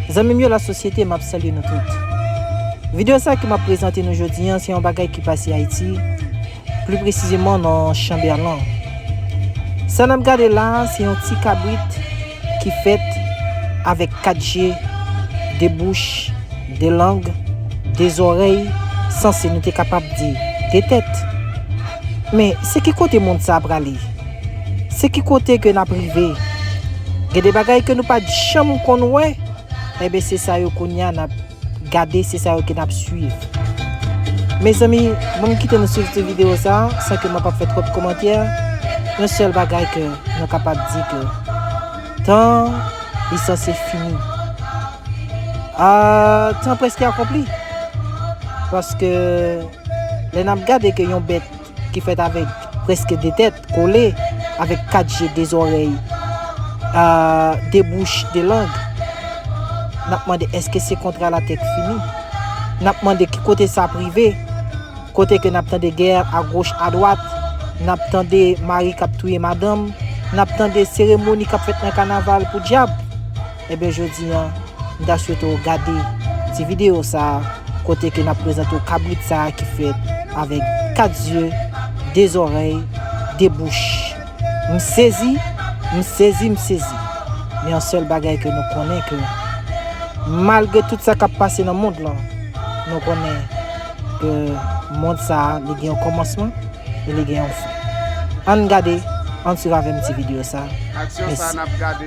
Zanmim yo la sosyete map salye nou tout video sa ke map prezante nou jodi an se yon bagay ki pase ayiti pli presizeman nan chanberlan sa nap gade la se yon ti kabrit ki fèt avèk 4 je 2 bouch 2 lang 2 zòrèy sanse nou te kapab di 2 tèt men se ki kote mond sa prale. Se ki kote ke nap rive? Gen de bagay ke nou pat janm konn wè, enben se sa yo kounye a nap gade, se sa yo ke nap swiv. Mezanmi, banm kite nou swiv ti video sa, san ke mwen pap fè twòp komantè, yon sèl bagay ke nou kapab di ke tan an li sanse fini. Aah, tan prèske akonpli, paske lè nap gade ke yon bèt. ki fèt avèk prèske de tèt, kole, avèk kat je, de zòrèy, a de bouch, de lang. N ap mande èske se kontra latek fini? N ap mande ki kote sa ap rive? Kote ke n ap tande gè agoch adwat, n ap tande mari k ap touye madanm, n ap tande seremoni k ap fèt nan kanaval pou dyab. Ebyen jodi an m ta swete w gade ti videyo sa kote ke n ap prezante w kabrit sa ki fèt avèk 4 zye, 2 zòrèy, 2 bouch. M sezi, m sezi, m sezi. Men yon sèl bagay ke nou konnen ke malgre tout sa k ap pase nan mond lan, nou konnen ke mond sa li gen yon kòmansman e li gen yon fen. Ann gade, ann swiv avè m ti videyo sa. Mèsi.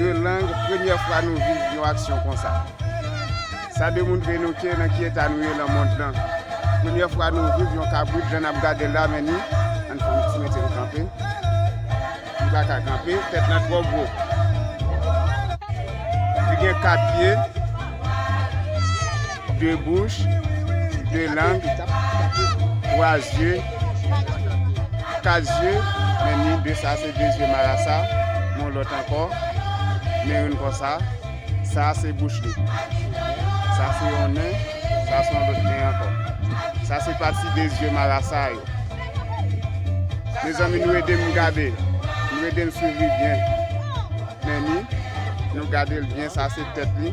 Yon lang premyè fwa nou viv yon aksyon konsa sa demontre nou ke nan ki eta nou ye nan mond lan premyè fwa nou viv yon kabrit jan nap gadel la men ni ann fè yon ti metel kanpe li paka kanpe tèt lan twò gwo li gen 4 pye. 2 bouch, 2 lang, 3 zye, 4 zye, men ni 2 sa se 2 zye marasa, yon lòt ankò, men youn konsa, sa se bouch li, sa se yon nen, sa se yon lòt nen ankò. Sa se pati 2 zye marasa yo. Mezanmi nou ede m gade, nou ede m swiv li byen, men ni, nou gade l byen, sa se tèt li.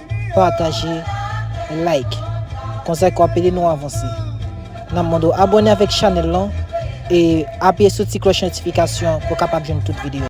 Pataje like konsa ka ede nou avanse nan mond ou abone avèk chanèl lan e apiye sou ti klòch notifikasyon pou kapab jwenn tout video.